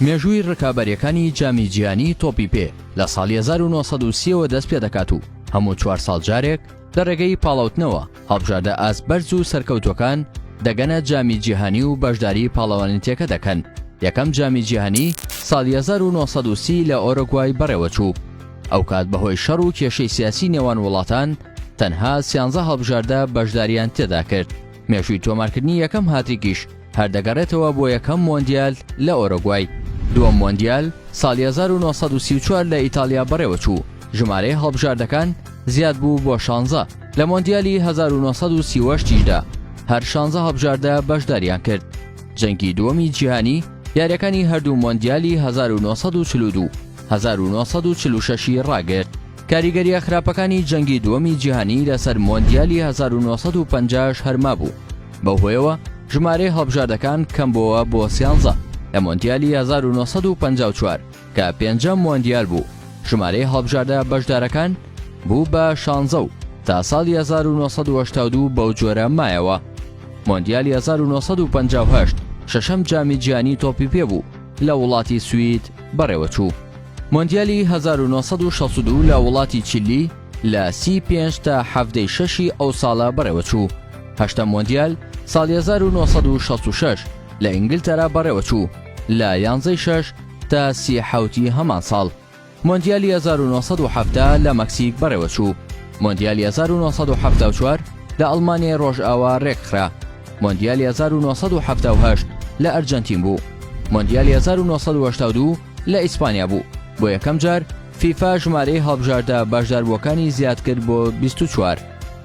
مێژووی ڕکابەریەکانی جامی جیانی تۆپی پێ لە ساڵی 1930ەوە دەست پێ دەکات و هەموو چوار ساڵ جارێک لە ڕێگەی پاڵاوتنەوە هەڵبژاردە ئاست بەرز و سەرکەوتوەکان دەگەنە جامی جیهانی و بەشداری پاڵەوانیتەکە دەکەن یەکەم جامی جیهانی ساڵی 1930 لە ئۆرۆگوای بەڕێوەچوو ئەو کات بەهۆی شەڕ و کێشەی سیاسی نێوان وڵاتان تەنها سیانزە هەڵبژاردە بەشداریان تێدا کرد مێژووی تۆمارکردنی یەکەم هاتریکیش هەر دەگەڕێتەوە بۆ یەکەم مۆندیال لە ئۆرۆگوای دووەم مۆندیال ساڵی 1934 لە ئیتالیا بەڕێوەچوو ژمارەی هەڵبژاردەکان زیاد بوو بۆ شانزە لە مۆندیالی 1930دا هەر شانزە هەڵبژاردە بەشداریان کرد جەنگی دووەمی جیهانی یاریەکانی هەردوو مۆندیالی 1940 1946 ڕاگرت کاریگەرییە خراپەکانی جەنگی دووەمی جیهانی لەسەر مۆندیالی 1950 ش هەر مابوو، بەو هۆیەوە ژمارەی هەڵبژاردەکان کەم بۆوە بۆ سیانزە، لە مۆندیالی 1954 کە پێنجەم مۆندیال بوو ژمارەی هەڵبژاردە بەشدارەکان بوو بە شانزە و تا ساڵی 1982 بەو جۆرە مایەوە. مۆندیالی 1958 شەشەم جامی جیهانی تۆپی پێ بوو لە وڵاتی سوید بەڕێوەچوو. مۆندیالی هەزار و نۆ سەد و شەست و دوو لە وڵاتی چیلی لە سی و پێنج تا حەفتەی شەشی ئەو ساڵە بەڕێوەچوو. هەشتەم مۆندیال ساڵی هەزار و نۆ سەد و شەست و شەش لە ئینگلتەرا بەڕێوەچوو لە یانزەی شەش تا سی حەوتی هەمان ساڵ. مۆندیالی هەزار و نۆ سەد و حەفتا لە مەکسیک بەڕێوەچوو. مۆندیالی هەزار و نۆ سەد و حەفتا و چوار لە ئەڵمانیای ڕۆژئاوا ڕێکخرا. مۆندیالی هەزار و نۆ سەد و حەفتا و هەشت لە ئەرجەنتین بوو. مۆندیالی هەزار و نۆ سەد و هەشتا و دوو لە ئیسپانیا بوو، بۆ یەکەم جار فیفا ژمارەی هەڵبژاردە بەشداربووەکانی زیادکرد بۆ بیست و چوار،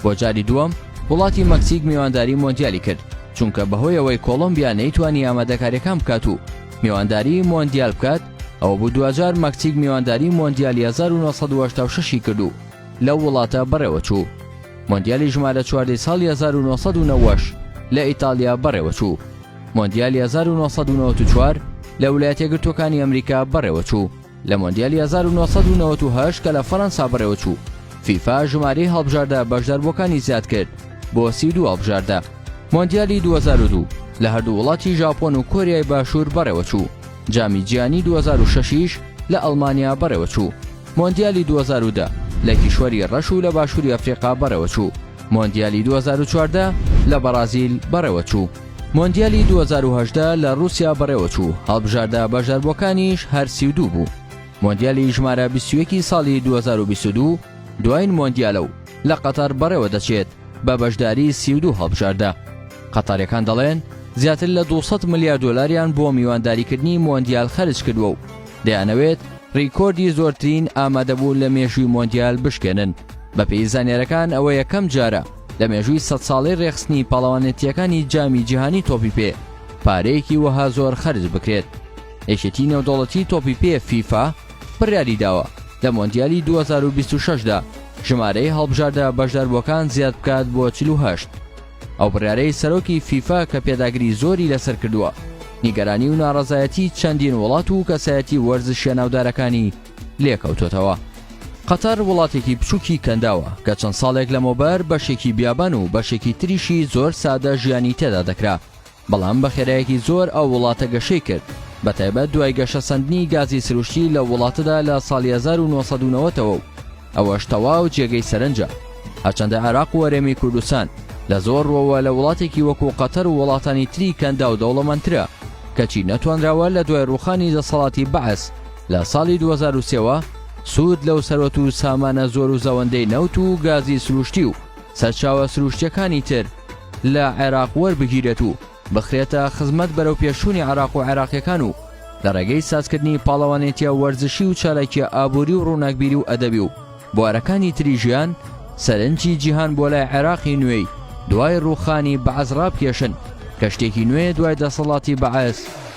بۆ جاری دووەم وڵاتی مەکسیک میوانداری مۆندیالی کرد، چونکە بەهۆی ئەوەی کۆڵۆمبیا نەیتوانی ئامادەکارییەکان بکات و میوانداری مۆندیال بکات، ئەوە بوو دواجار مەکسیک میوانداری مۆندیالی هەزار و نۆ سەد و هەشتا و شەش ی کرد و لەو وڵاتە بەڕێوەچوو. مۆندیالی ژمارە چواردەی ساڵی هەزار و نۆ سەد و نەوەد لە ئیتاڵیا بەڕێوەچوو. مۆندیالی 1994 لە ولایەتە یەکگرتووەکانی ئەمریکا بەڕێوەچوو لە مۆندیالی 1998 کە لە فەرەنسا بەڕێوەچوو فیفا ژماری هەڵبژاردە بەشداربووەکانی زیاد کرد بۆ سی دو هەڵبژاردە مۆندیالی 2002 لە هەردوو وڵاتی ژاپۆن و کۆریای باشوور بەڕێوەچوو جامی جیانی 2006یش لە ئەڵمانیا بەڕێوەچوو مۆندیالی 2010 لە کیشوەری ڕەش و لە باشووری ئەفریقا بەڕێوەچوو مۆندیالی 2014 لە بەڕازیل بەڕێوەچوو. مۆندیالی دوو هەزار و هەژدە لە ڕووسیا بەڕێوەچوو، هەڵبژاردە بەشداربووەکانیش هەر سی و دوو بوو. مۆندیالی ژمارە بیست و یەک ی ساڵی دوو هەزار و بیست و دوو دوایین مۆندیالە و لە قەتەڕ بەڕێوەدەچێت بە بەشداری سی و دوو هەڵبژاردە. قەتەڕیەکان دەڵێن، زیاتر لە دوو سەد ملیار دۆلاریان بۆ میوانداریکردنی مۆندیال خەرجکردووە و دەیانەوێت ڕیکۆردی زۆرترین ئامادەبوون لە مێژووی مۆندیال بشکێنن. بەپێی زانیارەکان ئەوە یەکەم جارە، لە مێژووی سەد ساڵەی رێکخستنی پاڵەوانێتییەکانی جامی جیهانی تۆپی پێ پارەیەکی وەها زۆر خەرج بکرێت یەکێتی نێودەوڵەتی تۆپی پێ فیفا بڕیاری داوە لە مۆندیالی 2026 دا ژمارەی هەڵبژاردە بەشداربووەکان زیاد بکات بۆ 48 ئەو بڕیارەی سەرۆکی فیفا کە پێداگری زۆری لەسەر کردووە نیگەرانی و ناڕەزایەتی چەندین وڵات و کەسایەتی وەرزشیە ناودارەکانی لێکەوتۆتەوە. قەتەر وڵاتێکی بچووکی کەنداوە کە چەند ساڵێک لەمەوبەر بەشێکی بیابان و بەشێکی تریشی زۆر سادە ژیانی تێدا دەکرا بەڵام بە خێرایەکی زۆر ئەو وڵاتە گەشەی کرد بە تایبەت دوای گەشە سندنی گازی سروشتی لە وڵاتەدا لە ساڵی 1990ەوە و ئەوەش تەواو جێگەی سەرنجە هەچەندە عێراق و وەرێمی کوردستان لە زۆر ڕۆوە لە وڵاتێکی وەکو قەتەر و وڵاتانی تری کەندا و دەوڵەمەندترە کەچی نەتوانراوە لە دوای ڕوخانی دەسەڵاتی بەعس لە ساڵی دوو هەزار و سێ وە سوود لەو سەروەت و سامانە زۆر و زەوەندەی نەوت و گازی سروشتی و سەرچاوە سروشتیەکانی تر لە عێراق وەربگیرێت و بخرێتە خزمەت بەرەو پێشوونی عێراق و عێراقیەکان و لە ڕێگەی سازکردنی پاڵەوانێتیە وەرزشی و چالاکیە ئابووری و ڕووناکبیری و ئەدەبی و بوارەکانی تری ژیان سەرنجی جیهان بۆ لای عێراقی نوێی دوای ڕووخانی بەعس ڕابکێشن کە شتێکی نوێ دوای دەسەڵاتی بەعس